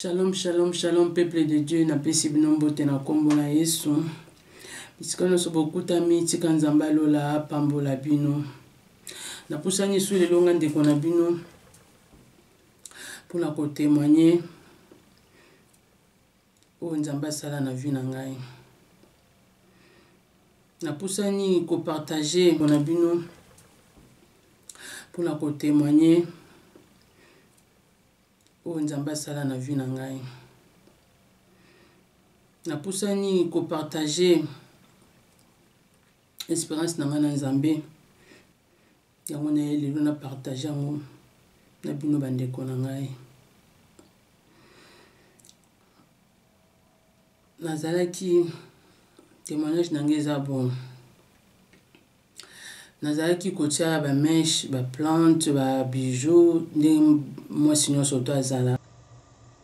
Shalom, shalom, shalom, peuple de Dieu, na pesi bino mbote na kombo na Yesu. Bisika nyonso bokutami, tika Nzambe alola apambola bino. Napusani su lelo nga ndeko na bino mpona kotemoigne oyo Nzambe asala na vie na ngai. Napusani kopartage na bino mpona kotemoigne oyo nzambe asala na vie na ngai napusani kopartage espérance na ngai na nzambe yango na ye lelo na partage yango na bino bandeko na ngai nazalaki témoignage na ngai eza bon Nazalaki kotia ba mèches, ba plantes, ba bijoux ndenge mwasi nionso doit azala.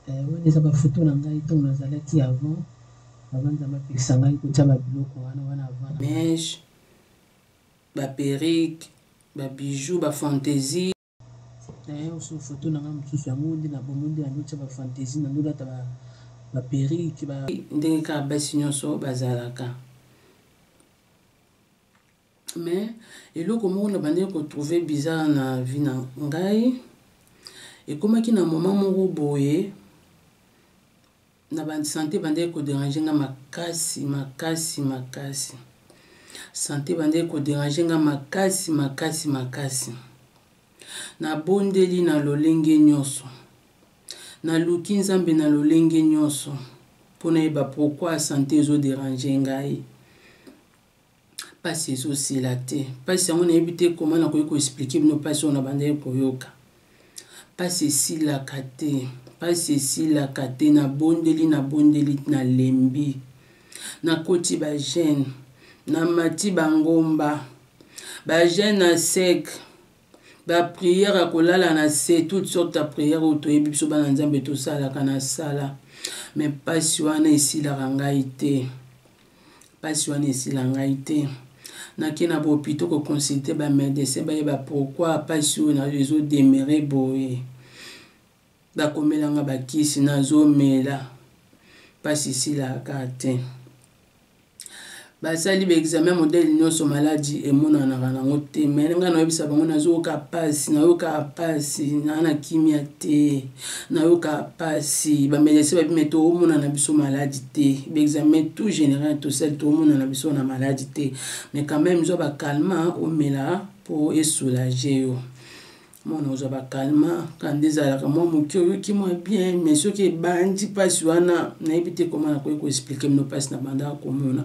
Eh, wana eza ba photos na ngai tango nazalaki avant, avant Nzambe apekisa ngai kotia ba biloko wana, wana avant. Mèches, ba perruques, ba bijoux, ba fantaisies. Naye osu photo nanga mususu yango nde na bomo nde nando tya ba fantaisie nando lata ba ba perruque ba ndenge kaka basi nyonso bazalaka mais eloko moko na bande ko trouver bizarre na vie na ngai ekomaki na moment moko boye na ba sante ebandaki koderange nga makasi makasi makasi sante ebandaki koderange nga makasi makasi makasi nabondeli na lolenge nyonso naluki nzambe na lolenge nyonso mpo nayeba pourkui sante ezoderange ngai mpasi ezosila te mpasi yango nayebi te koma nakoki koexplike bino mpasi oyo nabandaki koyoka mpasi esilaka te mpasi esilaka te nabondeli nabondeli nalembi nakoti bagene namati bangomba bagene na sec bapriere ya kolala na se toute sorte ya priere oyo toyebi biso bana nzambe tosalaka na sala me mpasi wana esilaka ngai te Pasi wana esila ngai te. Nake na bopito ko consulter ba medecin bayeba pourquoi pasi oyo na ezo demere boye. Bakomela nga bakisi nazomela. Pasi esilaka te. basali baexamen modele nyonso maladi emonanaka nango te me ngai nayoyebisa bango nazoyoka mpasi nayoka mpasi naa na kimia te nayoka pasi bamedecin babime toomona na biso maladi te baexamen tout général tosali toomona na biso na maladi te mais quand même zwa bakalma omela mpo esoulage yo mwana ozwa bakalma kanda ezalaka mwa moke oyoki mwa bien mais soki ebandi mpasi wana nayebi te koma nakoki koexplike mino mpasi na bandaka komona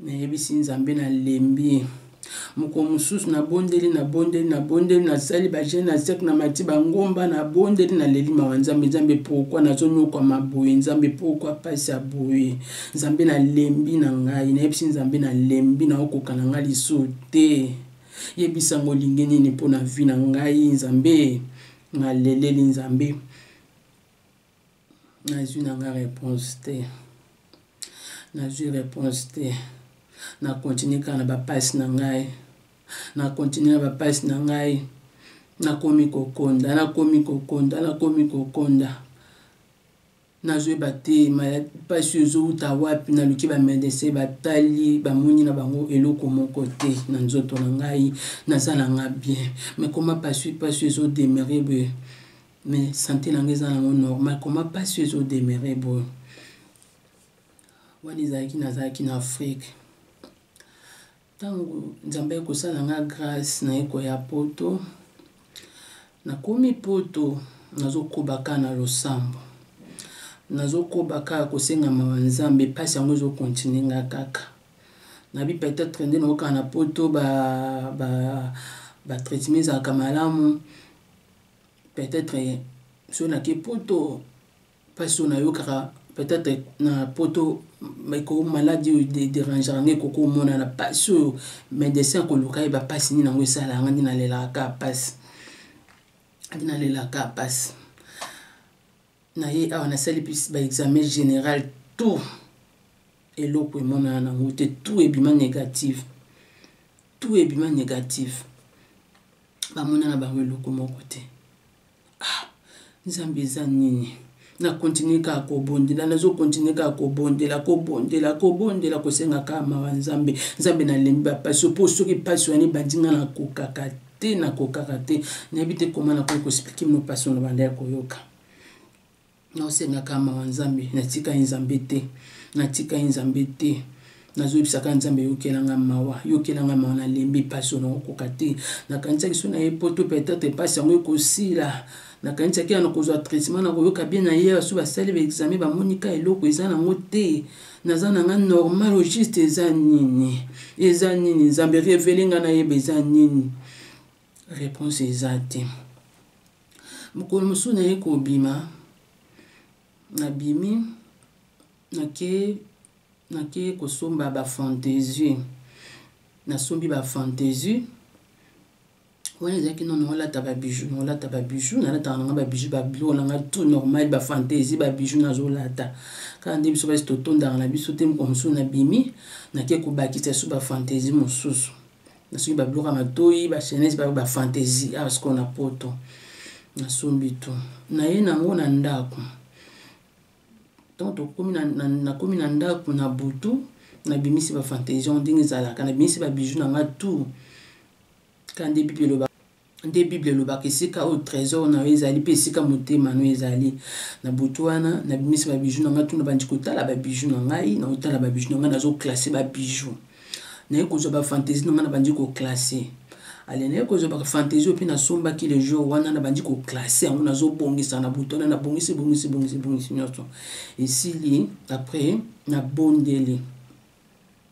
nayebisi nzambe nalembi mokolo mosusu nabondeli nabondeli nabondeli nasali bagene na sek na mati bangomba nabondeli naleli mawa nzambe nzambe pourkui nazonyokwama boye nzambe pourkui mpasi ya boye nzambe nalembi na ngai nayebisi nzambe nalembi naokoka na ngai lisu te yebisa yango olingi nini mpo na vi na ngai nzambe naleleli nzambe nazwi na nga réponse te nazwi réponse te na continue kaka na bapasi na ngai na continue na bapasi na ngai nakomi kokonda nakomi kokonda nakomi kokonda nazoyeba te mpasi oyo ezowuta wapi naluki bamedese batali bamoni na bango eloko moko te na nzoto na ngai naza na nga bien me koma mpasi mpasi ezodemere boye mais sante na nga eza nango normal comment mpasi oyo ezodemeure boye wana ezalaki nazalaki na afrike ntango nzambe akosala nga grâce naye koya poto nakomi poto nazokoba kaka na losambo nazokoba kaka kosenga mawa nzambe mpasi yango ezokontinue nga kaka nabi peut-être nde naokaka na poto ba, ba, ba traitement ezalaka malamu peut-être soki nake poto mpasi oyo nayokaka peut-être na poto eko maladi oyo derangera ngai ekoki omonana mpasi oyo medecin akoluka yeba mpasi nini yango esalaka ngai nde nalelaka kaka mpasi nde nalelaka kaka mpasi na ye awa nasali mpisi baexamen général tout eloko emonana nango te tout ebima négative tout ebima négative bamona na bango eloko moko te ah, nzambe eza nini nakontinue kaka kobondela nazokontinue kaka kobondela kobondela kobondela kosenga kaka mawa nzambe nzambe nalembi bapasi mpo soki mpasi wana ebandi nga nakokaka te nakokaka te nayebi te koma nakoki koexplike mino mpasi ono banda ya koyoka naosengaka mawa nzambe natika ye nzambe te natika ye nzambe te nazoyebisaka nzambe yokelanga mawa yokelanga mawa nalembi mpasi oyo nakokoka te nakanisaki so na ye poto peut-être mpasi yango ekosila nakanisaki ya nakozwa traitement nakoyoka bien na ye baso basali baexame bamoni ka eloko eza nango te naza na nga normal o juste eza nini eza nini nzambe revele nga nayeba eza nini Reponse eza te. Mokolo mosusu naye kobima, nabimi nake nake kosomba ba fantaisie, nasombi ba fantaisie wana ezalaki no naolata babiju naolata babiju nalataka nanga babiju babiloko nanga tout normal bafantaisie babiju nazolata kaka nde biso basi totondaka na biso te mokolo mosusu nabimi nake kobakisa su bafantaisie mosusu na soki babiloko ya matoyi bachaines bayo bafantaisie awa sikoyo na poto nasombi to naye nango na ndako ntango tokomi nakomi na ndako na butu nabimisi bafantaisie yango ndenge ezalaka nabimisi babiju na nga tout ka nde bible eloba nde bible elobaka esika oyo trésor na yo ezali mpe esika motema no ezali na butu wana nabimisi babiju na ngai tuna bandi kotala babiju na ngai na kotala babiju na ngai nazoklasse babiju naye kozwa bafantaisie na ngai nabandi koklasse ale naye kozwa bafantaisie oyo mpe nasombaki le jour wana nabandi koklasse yango nazobongisa na butu wana nabongisi bongisi bongisi bongisi nyonso esili après nabondeli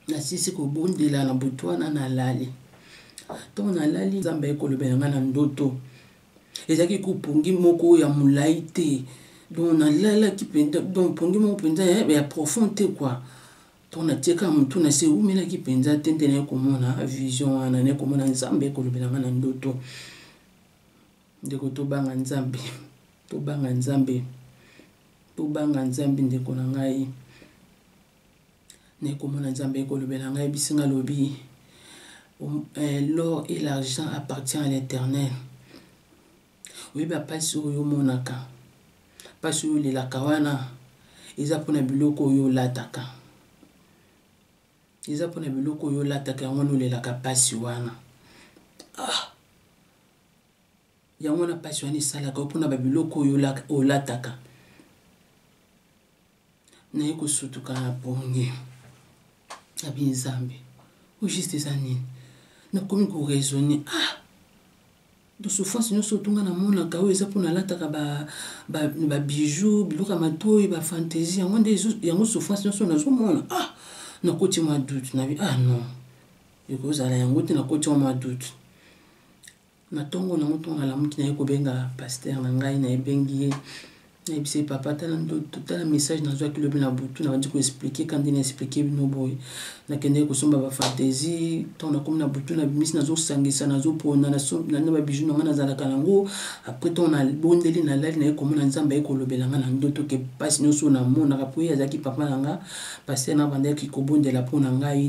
nasisi kobondela na butu wana nalali ntongo nalali nzambe aye kolobela ngai na ndoto ezalaki kopongi moko ya molai te donc nalalaki mpenza donc pongi moko mpenza eh, ya profond te kua ntongo natieka motu na se eumelaki mpenza te nde naye komona vision wana naye komona nzambe kolobela ngai na ndoto ndeko tobanga nzambe tobanga nzambe tobanga nzambe ndeko na ngai naekomona nzambe ekolobela ngai bisi nga lobi eh, l'or et l'argent appartient à l'éternel oyebi bapasi oyo omonaka mpasi oyo olelaka wana eza mpona biloko oyo olataka eza mpona biloko oyo olataka yango wana olelaka mpasi wana ah. Yango wana pasi wana esalaka mpo na babiloko oyo olataka naye kosutuka na pongi na binzambe oyo juste eza nini nakomi koraisonne ah dosouffrance nyonso otunga namonaka oyo eza mpo nalataka babijou biloko ya matoi bafantasi yango nde yango souffrance nyonso nazomona ah nakoti mwa doute nabi ah non ekozala yango te nakoti mwa doute na ntongo na yango ntongo nalamuki naye kobenga paster na ngai nayebengi ye nayebisa ye papa tala ndoto tala message nazwaki lobi na butu nabandi koexplike ka nde naexplike bino boye nakendaki kosomba bafantasi ntango nakomi na butu na bimisi nazosangisa nazopona na babiju na ngai nazalaka nango apres ntango nabondeli nalali naye komona nzambe aye kolobela ngai na ndoto ke mpasi nyonso oyo namonaka mpo ye azalaki papa na ngai paster nabandaki kobondela mpo na ngai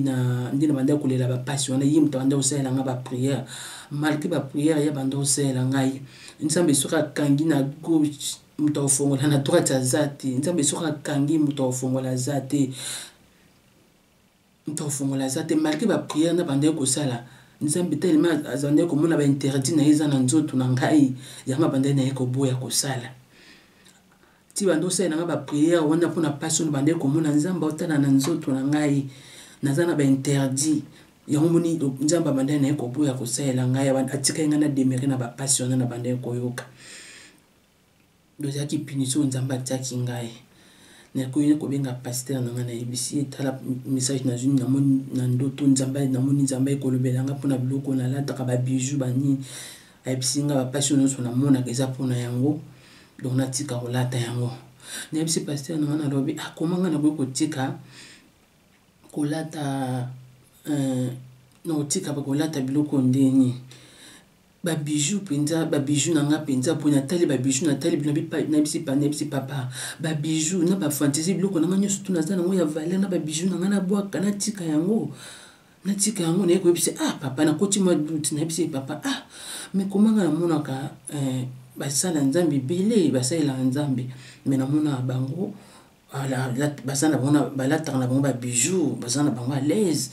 nde nabandaki kolela bapasi wana ye moto abandaki kosalela ngai bapriere malgre ba prière ya banda osalela ngai nzambe soki akangi na gauche moto akofongola na droite aza te nzambe soki akangi moto akofongola aza te moto akofongola aza te malgre ba prière na bandaki kosala nzambe telema azandaki komona ba interdit na ye eza na nzoto na ngai yango abandaki na ye koboya kosala ti banda osalela ngai bapriere wana mpo na mpasi ono bandaki komona nzambe aotala na nzoto na ngai naza na bainterdit yango moni nzambe abandai na ye koboya kosalela ngai atikaki ngai na demere na bampasi wana na bandai koyoka dozalaki punition oyo nzambe atiaki ngai nakoki kobenga pastere na ngai nayebisi ye tala message nazwi namoni na ndoto nzambe namoni nzambe ekolobela ngai mpo na biloko nalataka babiju banini nayebisi nga bapasi oyo nyonso namonaka eza mpo na yango donc natika kolata yango nayebisi pasteur na nga nalobi akoma ah, nga nakoki kotika kolata euh, nakotika kolata biloko ndeni babiju mpenza babiju na nga mpenza mpo natali babiju natali nabisi nabisi papa babiju na bafantasi biloko na nga nyonso tu naza nango ya valeur na babiju na nga nabwaka natika yango natika yango naye koyebisa ah papa nakoti mwa doute nayebisa ye papa ah mais komanga namonaka eh, basala nzambe ebele basalelaka nzambe mais namonaka bango baza na bango balataka na bango babijou baza na bango alaise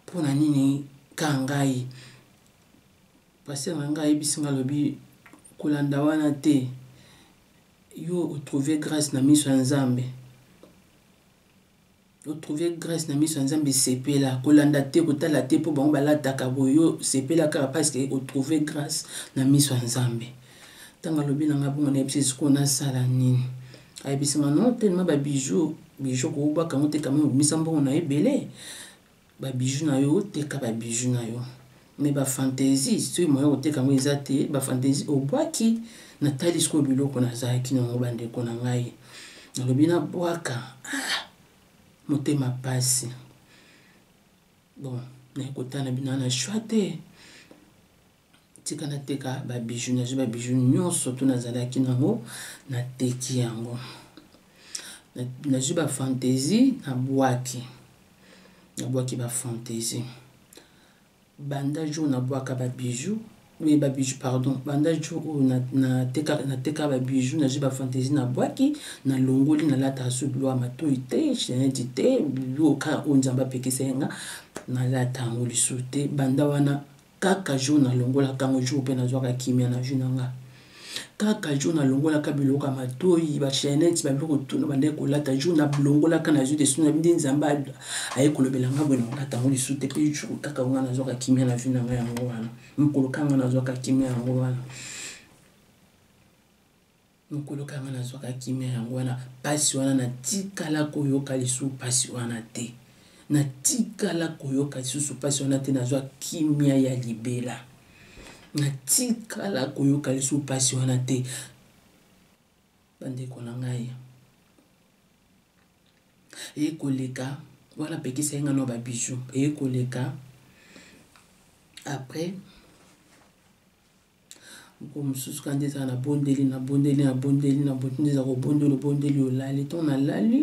mpo na nini kaka ngai paster na ngai ayebisi ngai alobi kolanda wana te yo otrouve grâce na miso ya nzambe otrouve grace na miso ya nzambe sepela kolanda te kotala te mpo bango balataka boyo sepela kaka parceke otrouve grace na miso ya nzambe ntango alobi na ngai bongo nayebisi esikoyo nasala nini ayebisi ngai no telema babijou bijou kobwaka yango te kama obimisa mbongo na ebele ba bijoux na yo teka ba bijoux na yo mais ba fantaisie soki moya koteka yango eza te ba fantaisie obwaki natali sikoyo biloko nazalaki na yango bandeko na ngai nalobi nabwaka ah, motema mpasi bon naye kotala bino na shwa te tika nateka babiju nazwi babiju nyonso to nazalaki nango nateki yango nazwi bafantaisie nabwaki nabwaki bafantaisie banda jour nabwaka babiju oui babiju pardon banda jour oyo natekaka na na babiju nazwi bafantaisie nabwaki nalongoli nalataka so biloko ya matoi te cheneti te biloko kaka oyo nzambe apekisa ye nga nalata yango lisusu te banda wana kaka jour nalongolaka yango jour mpe nazwaka kimia na vie na nga kaka jour nalongolaka biloko ya matoi bachenete babiloko tuna bandaki kolata jour nalongolaka nazwi desu na binde nzambe aye kolobela nga boye nakolata yango lisu te mpe jour kaka nga nazwaka kimia na vie na nga yango wana mokolo kanga nazwaka kimia yango wana mokolo kaka nga nazwaka kimia yango wana mpasi wana natikala koyoka lisusu mpasi wana te natikala koyoka lisusu mpasi wana te nazwa kimia ya libela natikala koyoka lisusu mpasi wana te bandeko na ngai eye koleka wana pekisa ye ngai na babiju eye koleka après mokolo mosusu kaka nde ezala nabondeli nabondeli nabondeli nabondeli eza kobondeli obondeli olali ntango nalali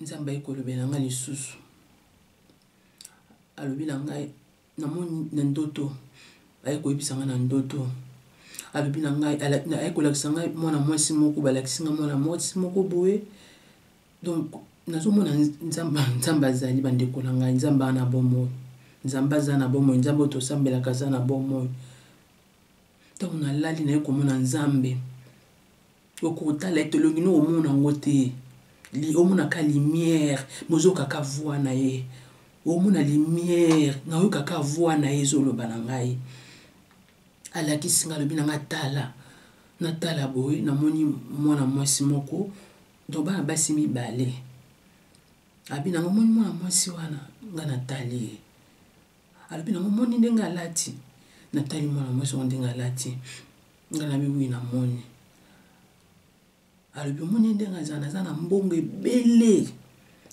nzambe ayi kolobela ngai lisusu alobi na ngai namoni na ndoto aye koyebisa ngai na ndoto alobi na ngai aye kolakisa ngai mwana mwasi moko balakisi ngai mwana mwasi moko boye donc nazomona nzambe nzambe azali bandeko na ngai nzambe aza na bomoi nzambe aza na bomoi nzambe oyo tosambelaka aza na bomoi ntango nalali naye komona nzambe okotala ete olongi no omona yango te omonaka limiere mozokaka voi na ye omona limiere nayoyokaka voi na ye ezoloba na ngai alakisi ngai alobi na ngai tala natala boye namoni mwana mwasi moko donc bana basi mibale abi nango omoni mwana mwasi wana nga natali ye alobi nango omoni ndenge alati natali mwana mwasi yango ndenge alati nga nabi wi namoni alobi omoni ndenge azala aza na mbongo ebele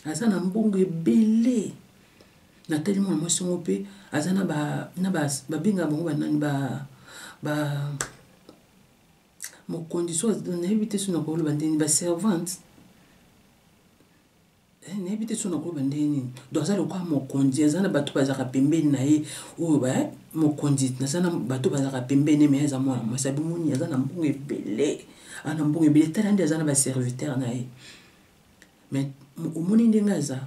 aza na mbongo ebele natali mwana mwasi yango mpe aza na babenga bango banani ba, ba, ba mokonzi so nayebi te so nakoloba ndeni baservante eh, nayebi te so nakoloba ndenge nini donc aza lokola mokonzi aza na bato bazalaka pembeni na ye oyo ba eh, mokonzi naza na bato bazalaka pembeni me aza mwana mwasi abimoni aza na mbongo ebele aza na mbongo ebele tala nde aza na baserviteur na ye mais omoni ndenge aza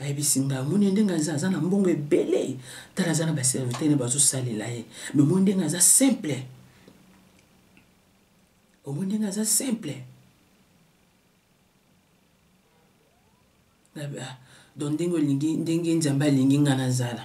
ayebisi ngai omoni ndenge aza aza na mbongo ebele tala aza na baserviteur ne bazosalela ye me omoni ndenge aza simple omoni ndenge aza simple ah, don ndenge olingi ndenge nzambe alingi ngai nazala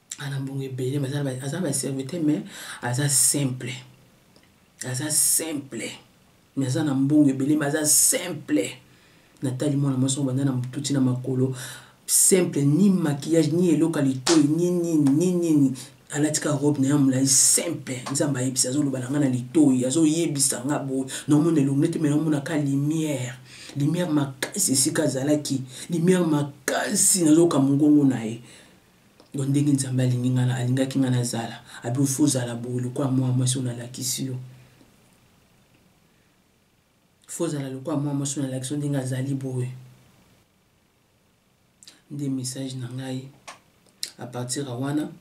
ana mbongo ebele aza na baserviteur mais aza simple aza simple mais aza na mbongo ebele mais aza simple natali mwana mwasi yango banda na motu ti na makolo simple ni maquillage ni eloko ya litoi ni nini ni nini alati ka robe na ya molai simple nzambe ayebisa azoloba na ngai na litoi azoyebisa nga boye naomona elongi te me naomona ka lumière lumière makasi esika azalaki lumière makasi nazoka mongongo na ye Donc ndenge Nzambe alingi nga na alingaki nga na zala, abi faut zala boye lokola mwa mwasi na lakisi yo. Faut zala lokola mwa mwasi na lakisi yo ndenge azali boye. Nde message na ngai à partir ya wana.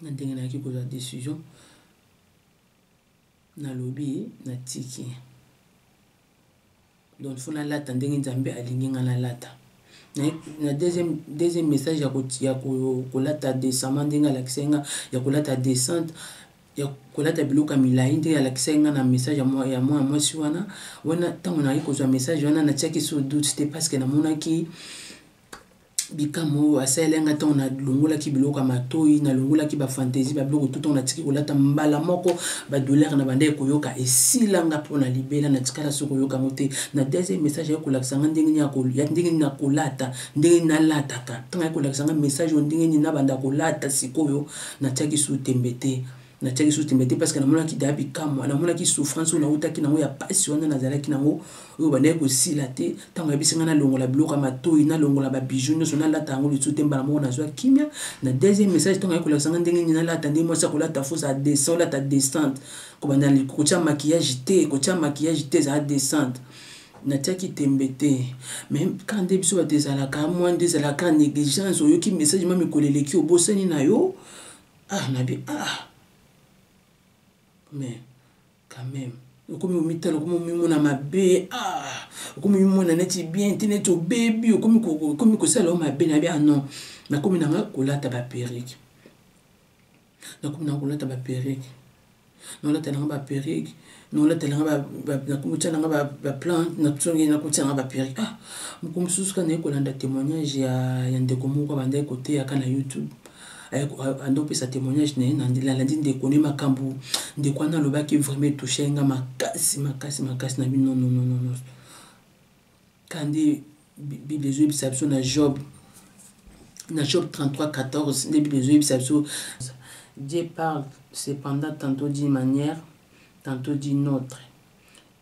na ndenge nayaki kozwa decision nalobi natiki donc fo nalata ndenge nzambe alingi ngai nalata na deuxième, deuxième message ya kolata desama ndenge alakisaki nga ya kolata descente ya kolata biloko ya milai ndenge alakisaki nga na message ya mwana mwasi wana wana ntango nayaki kozwa message wana natiaki sur doute te parce que namonaki bikamwa oyo asalelaki ngai ntango nalongolaki biloko ya matoi nalongolaki bafantaisie babiloko tu ntango natiki kolata mbala moko badolare na bandaki koyoka esila nga mpo na libela natikala so koyoka yango te na deuxième message ayaki kolakisa ngai ndenge nini nakolata ndenge nalataka ntango ayaki kolakisa ngai message oyo ndenge nini nabanda kolata sikoyo natiaki su tembe te natiaki susu tembe te parce que namonaki deya bikamwa namonaki souffrance oyo nautaki nango ya pasi wana nazalaki nango oyo bandaki kosila te ntango yabisi ngai nalongola biloko ya matoi nalongola babiju nyonso nalata yango lisusu te mbala moko nazwa kimia na deuxième message ntango ayaki kolakisa ngai ndenge nini nalata ndenge mwasi akolata fo ezala descent olata descente kobanda kotya makiyage te kotya makiyage te ezala descente natiaki tembe te mai kaka nde biso bato ezalaka mwa nde ezalaka négligence oyoki message ma mikolo eleki obosani na yo ah nabi ah mais quand même okomi omitala okomi omimona mabe ah okomi omimona neti bien te neti obebi okomi kosala yo mabe nabi ah non nakomi nanga kolata baperike nakomi nanga kolata baperike nakolata nanga ba perruque nakolata nanga nakomotya nanga ba plan natongi nakotya nanga ba perruque ah moko mosusu kaka naye kolanda témoignage ya, ya ndeko moko abandaki koteyaka na youtube ando opesa témoignage na ye nalandi ndeko ne makambo ndeko wana alobaki vraiment etouche nga makasi makasi makasi na bino nononono Kande Bible ezo yebisa biso na Job na Job 33 14 nde Bible ezo yebisa biso Dieu parle cependant tantôt d'une manière tantôt d'une autre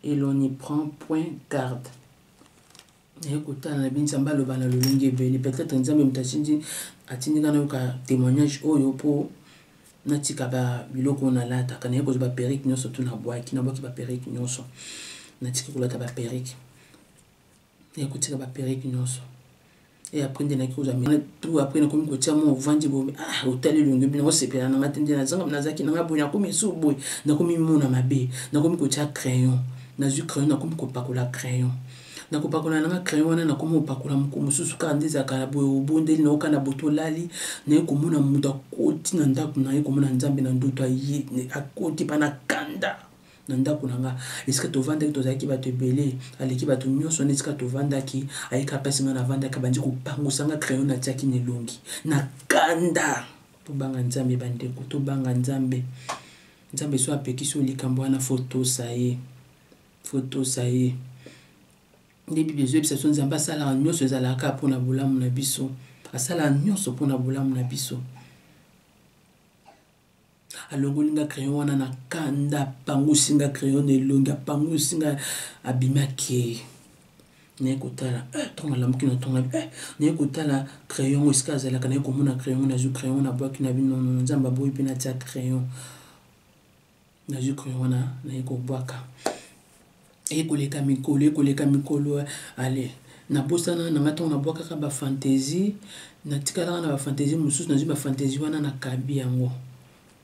et l'on n'y prend point garde naye kotala na bini nzambe aloba na lolenge ebele peut-être nzambe moto atindi atindika nayoka témoignage oyo mpo natika ba biloko oyo nalataka naye kozwa ba perruque nyonso tu nabwaki nabwaki ba perruque nyonso natiki kolata ba perruque naye kotika ba perruque nyonso e après nde naki kozwa mena tu après nakomi kotia mwa ovandi boye ah otali elongi bino osepela na nga te nde nazanga nazalaki na nga boye nakomi esu boye nakomi mona mabe nakomi kotia crayon nazwi crayon nakomi kopakola crayon na kopakola nanga crayon wana nakoma kopakola moko mosusu kaka nde ezalaka na boye obondeli na oka na boto olali naye komona moto akoti na ndako na ye komona nzambe na ndoto aye akoti mpa na kanda na ndako na nga esika tovandaki tozalaki bato ebele aleki bato nyonso wana esika tovandaki ayika mpasi nga navandaki abandi kopangusa nga crayon natiaki na elongi na kanda tobanga nzambe bandeko tobanga nzambe nzambe so apekisi yo likambo wana fotosa ye Photo ça y est. Nde Bible ezoyebisa biso Nzambe asalaka nyonso ezalaka kaka mpo na bolamu na biso. Asalaka nyonso mpo na bolamu na biso. alongoli nga crayon wana na kanda apangusi nga crayon na elongi apangusi nga abimaki naye kotala eh, ntongo alamuki na ntongo eh, naye kotala crayon ngo esika azalaka naye komona crayon nazwi crayon na bwaki na bino nzambe aboyi mpe natia crayon nazwi crayon wana naye kobwaka eye koleka mikolo eye koleka mikolo ale nabosana na ngai ntango nabwakaka bafantaisie natikalaka na bafantaisie mosusu nazwi bafantaisie wana nakabi yango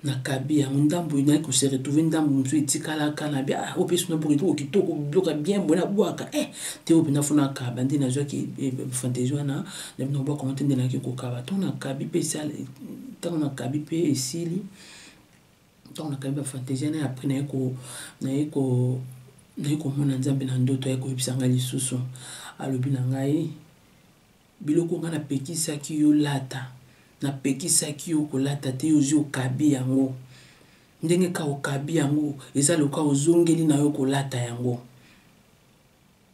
nakabi yango ndambo naye kose retrouve ndambo mosusu etikalaka na bia ah, oyo mpe suna boka etoko kitoko biloka bien boye nabwaka e eh, te oyo mpenza fona akaba nde nazwaki eh, fantaisie wana nabwaka yango te nde nayaki kokaba ntango nakabi mpe ntango nakabi mpe esili ntango nakangi bafantasie wana apres naye ko naye ko naye komona nzambe na ndoto aye koyebisa ngai lisusu alobi na ngai biloko ngai napekisaki yo lata napekisaki yo kolata te yo ozwi okabi yango ndenge ka okabi yango eza loka ozongeli na yo kolata yango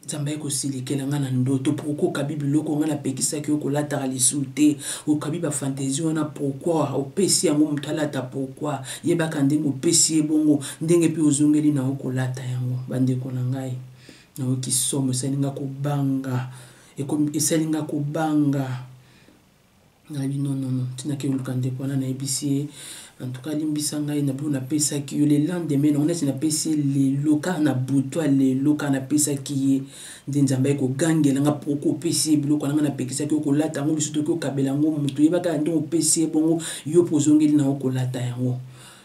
Nzambe aye kosilikela nga na ndoto pourquoi okabi biloko nga napekisaki yo kolataka lisusu te okabi ba fantaisie wana pourquoi opesi yango moto alata pourquoi yebaka ndenge opesi ye bongo ndenge mpe ozongeli na yo kolata yango bandeko na ngai nayoki somo esali nga kobanga esali nga kobanga nayebi nonono ntina ke oluka ndeko wana nayebisi ye en tout cas alimbisa ngai na bino napesaki yo le lendemain nango neti napesi ye lelo kaka na butwa lelo kaka napesaki ye nde nzambe aye kogangela nga po kopesi ye biloko na nga napekisaki yo kolata yango lisusu toki okabela yango moto oyebaka ya nde opesi ye bongo yo mpo ozongeli na yo kolata yango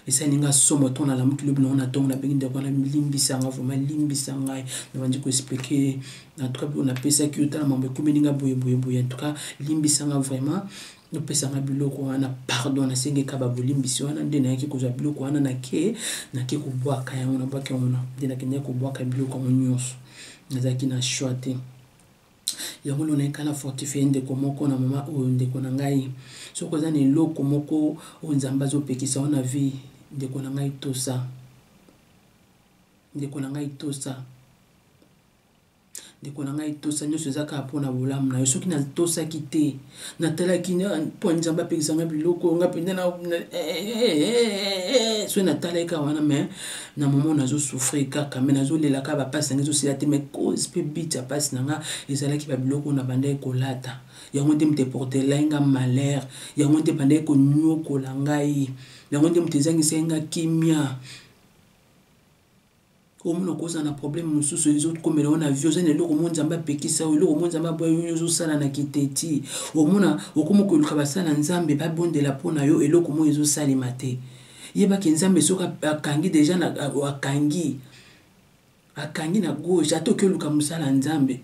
esali nga somo ntango nalamuki lobi nango na ntongo nabengi ndeko wana limbisa nga vraimen limbisa ngai nabandi koexplike na tuka biko napesaki yo tala mambo ekomeli nga boye boye boye antuka limbisa nga vraimen nopesanga biloko wana pardon nasengi ekaba bolimbisi wana nde nayaki kozwa biloko wana nake nake kobwaka yango nabwaki yango na nde nakendaki kobwaka biloko yango nyonso nazalaki na choix te yango lona ekala fortifie ndeko moko na mama oyo ndeko na ngai soki oza na eloko moko oyo nzambe azopekisa yo na vie ndeko na ngai tosa ndeko na ngai tosa ndeko na ngai tosa nyonso eza kaka mpo na bolamu na yo soki natosaki te natalaki mpo nzambe apekisa nga biloko nga mpenza soki natalaki kaka wana mai na momo nazosouffrir kaka mai nazolelaka bapasi na nga ezosila te mai cause mpe bit ya mpasi na nga ezalaki babiloko na bandaki kolata yango nde moto eportelai nga malheur yango nde bandaki konyokola ngai yango nde moto ezangisaki nga kimia omonoko oza na problème mosusu ezokomela yo na vie oza na eloko mo nzambe apekisa yo eloko mo nzambe aboya yo ozosala na kiteti omona okomi koluka basala nzambe babondela mpo na yo eloko mo ezosalema te yebaki nzambe soki akangi deja akangi akangi na gauche ata oki oluka mosala nzambe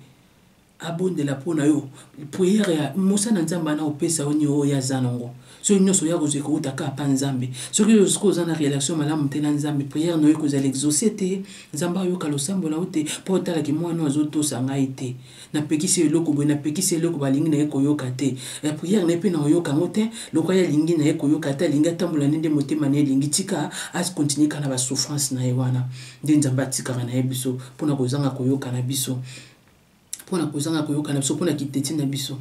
abondela mpo na yo priere ya mosana nzambe ana opesa yo nio oyo aza nango soki nyonso oya kozwa ekouta kaka mpa nzambe soki oyo sikoyo oza na relation malamu te na nzambe priere na yo ekozala exauce te nzambe ayoka losambo na yo te mpo otalaki mwana oyo azotosa ngai te napekisi eloko boye napekisi eloko balingi na ye koyoka te ya priere na ye mpe na oyoka yango te lokola ye alingi na ye koyoka te alingi atambola nde nde motema na ye elingi tika akontinue kaka na basouffrance na ye wana nde nzambe atikaka na ye biso mpo na kozanga koyoka na biso mpo na kozanga koyoka na biso mpo na kiteti na biso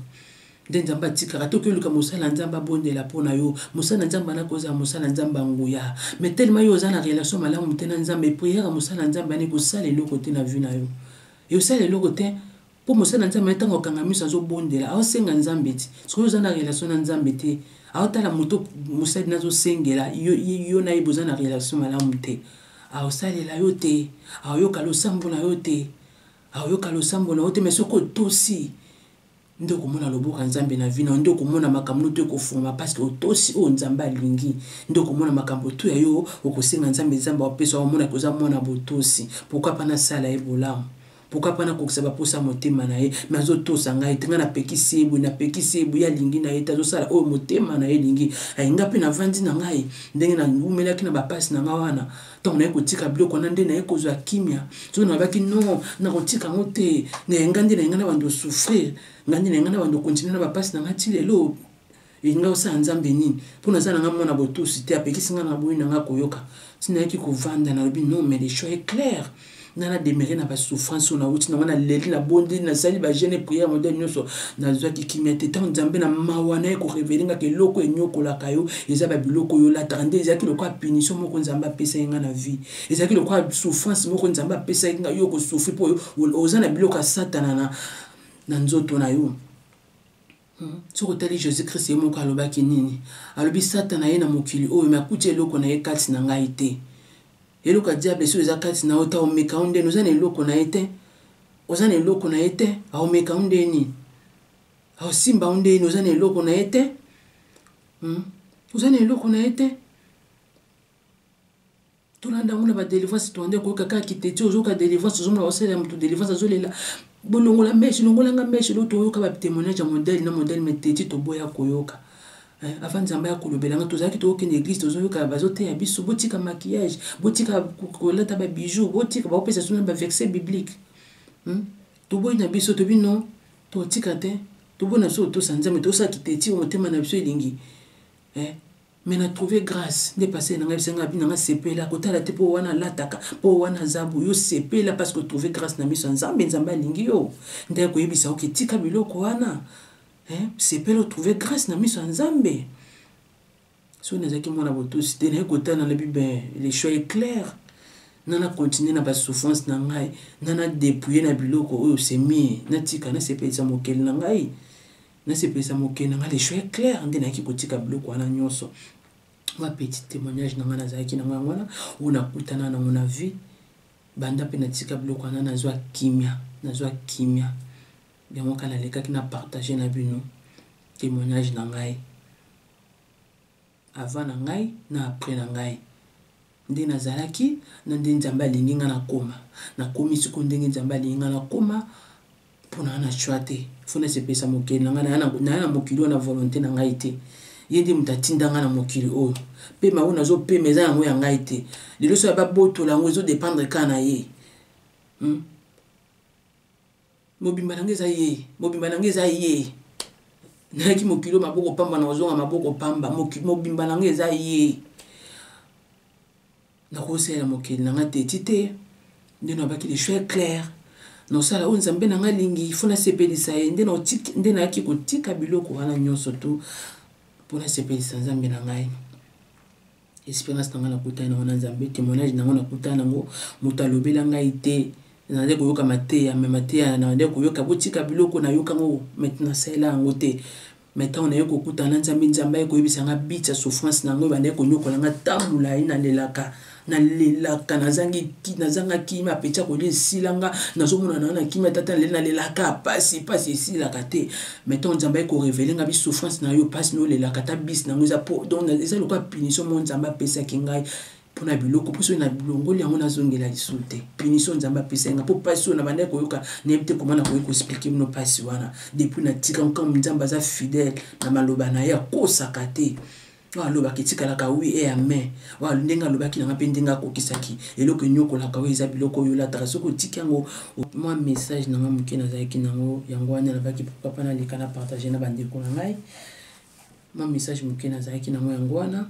nde nzambe atikaka toki oluka mosala ya nzambe abondela mpo na yo mosala ya nzambe anaki ozala mosala ya nzambe ya nguya mai telema yo oza na relation malamu te na nzambe priere mosala ya nzambe anaki kosala eloko te na vi na yo eosala eloko te mpo mosala ya nzambe ntango akanga miso azobondela aosenga nzambe ti soki oza na relation na nzambe te aotala moto mosali nazosengela yo, yo na ye boza na relation malamu te aosalela yo te aoyoka losambo na yo te aoyoka losambo na yo te me soki otosi nde okomona loboko ya nzambe na vi na yo nde okomona makambo noto ekofungama parceke otosi oyo nzambe alingi nde okomona makambo tu ya yo okosenga nzambe nzambe apesa omonaki oza mwana botosi pourkui mpa nasala ye bolamu pourkui mpa nakokisa baposa ya motema na ye me azotosa ngai te ngai napekisi ye boye napekisi ye boye alingi na ye te azosala oyo motema na ye elingi alinga mpe navandi na ngai ndenge naumelaki na bapasi na ngai wana ntango naye kotika biloko wana nde naye kozwa kimya soki nalobaki no nakotika yango te naye ngai nde naye ngai na bando souffrir ngai nde naye ngai na bando continue na bapasi na ngai ti lelo elingai osala nzambe nini mpo naza na ngai mwana botusi te apekisi ngai na boyi na ngai koyoka ti nayaki kovanda nalobi no mais le choix est claire nga na demere na basouffrance oyo nauti nango naleli nabondi nasali bagene priere modele nyonso nazwaki kimia te ntango nzambe na mawa na ye korevele ngaka eloko enyokolaka yo eza babiloko oyo olataka nde ezalaki lokola punition moko nzambe apesaki nga na vie ezalaki lokola souffrance moko nzambe apesaki nga yo okosouffri mpo oza na biloko ya satana na, na nzoto na yo Hmm. Soki otali Jesus Christ ye moko alobaki nini? Alobi Satana ye na mokili oyo me akuti eloko na ye kati na ngai te. Eloko ya diable soki eza kati na yo ta omeka yo ndeni oza na eloko na ye te. Oza na eloko na ye te, aomeka yo ndeni. Aosimba yo ndeni oza na eloko na ye te. Hmm? Oza na eloko na ye te. tolanda yango na badelivrance toanda koyoka kaka kiteti ozoyoka delivrance ozomona osele ya moto delivrance azolela bolongola meshe longolanga meshe lo toyoka batemoignage ya modele na modele meteti toboya koyoka eh, avant nzambe ya kolobela nga tozalaki tokokende eglise tozoyoka bazoteya biso botika maquillage botika kolata babijou botika bakopesa suna baverset biblique hmm? toboyi na biso tobi no totika te toboyi na biso kotosa nzambe tosala kiteti motema na biso elingi eh? mais na trouve grace nde pasele na ngai bisa ngai nanga sepela kotala te mpo wana alataka mpo wana aza boyo sepela parce que trouve grace na miso ya nzambe nzambe alingi yo nde akoyebisa oke tika biloko wana eh, sepela otrouve grace na miso ya nzambe soki nazalaki mwana botosi te naye kotala na bibe le choix est clair nana continue na basouffrance na ngai nana depouille na biloko oyo semie natika nasepelisa mokeli na ngai nasepelisa mokili na ngai le choix clair nde nayaki kotika biloko wana nyonso ma petit témoignage na ngai nazalaki nango yango wana oyo nakutana nango na vie banda mpe natika biloko wana nazwa kimia nazwa kimia yango kaka nalekaki na partage na bino témoignage na ngai Avant na ngai na après na ngai. Nde nazalaki na nde Nzambe alingi ngai nakoma. Nakomi sikoyo ndenge Nzambe alingi ngai nakoma mpo na na choix te. Faut nasepelisa mokili na ngai naya na mokili oyo na volonté na ngai te. Ye nde moto atinda ngai na mokili oyo. Pema oyo nazopema eza yango ya ngai te. Lelo soki ababotola yango ezo dépendre kaka na ye. Hmm? mobimba na nga eza ye mobimba na nga eza ye nayaki mokili oyo maboko pamba na kozonga maboko pamba mobimba na nga eza ye nakosalela mokili na nga teti te nde nabaki le choix claire nosala oyo nzambe na nga alingi fo nasepelisa ye nde nayaki kotika biloko wana nyonso tu mpo nasepelisa nzambe na ngai esperance na ngai nakutani nango na nzambe témoignage nango nakutani nango moto alobela ngai te nazali koyoka mateya me mateya nazali koyoka botika biloko nayoka yango mete nasalela yango te me ntango naye kokutana na nzambe nzambe aye koyebisa ngai bitsa souffrance na yango ebandaki konyokola ngai ta molai nalelaka nalelaka nazangi nazanga kima apeti akolia esila nga nazomonana na kima tata naleli nalelaka pasi pasi esilaka te mais ntango nzambe aye korevele ngai bisouffrance na yo mpasi na olelaka ata bisi na yango eza po donc eza lokola punition moko nzambe apesaki ngai mpo na biloko mpo soki na bilongoli yango nazongela lisusu te punition nzambe apesaki ngai mpo mpasi oyo na bandaki koyoka nayebi te koma nakoki koexplike bino mpasi wana depuis natika nkambo nzambe aza fidèle na maloba na ye akosaka te oyo alobaka etikalaka wi e ame oyo ndenge alobaki nanga mpe ndenge akokisaki eloko enyokolaka oyo eza biloko oyo olataka soki otiki yango mwa message nanga moke nazalaki nango yango wana nalobaki pourkoi mpa naleka na partage na bandeko na ngai mwa message moke nazalaki nango yango wana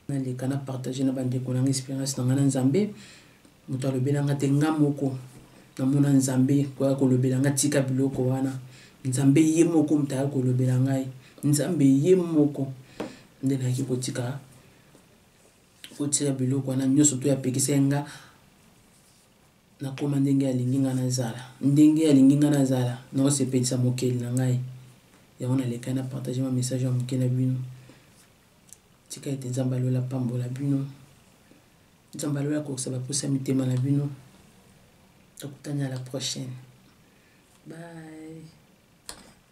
naleka na partage na bandeko nanga experience nanga na nzambe moto alobela nga te nga moko namona nzambe koya kolobela nga tika biloko wana nzambe ye moko moto aya kolobela ngai nzambe ye moko nde nayaki kotika kotika biloko wana nyonso to yapekisa ye nga nakoma ndenge alingi ngai nazala ndenge alingi ngai nazala naosepelisa mokeli na ngai yango nalekani na partage ma message ya moke na bino tika ete nzambe ya lola apambola bino nzambe ya lola akokisa baposa ya mitema na bino tokutani à la prochaine bye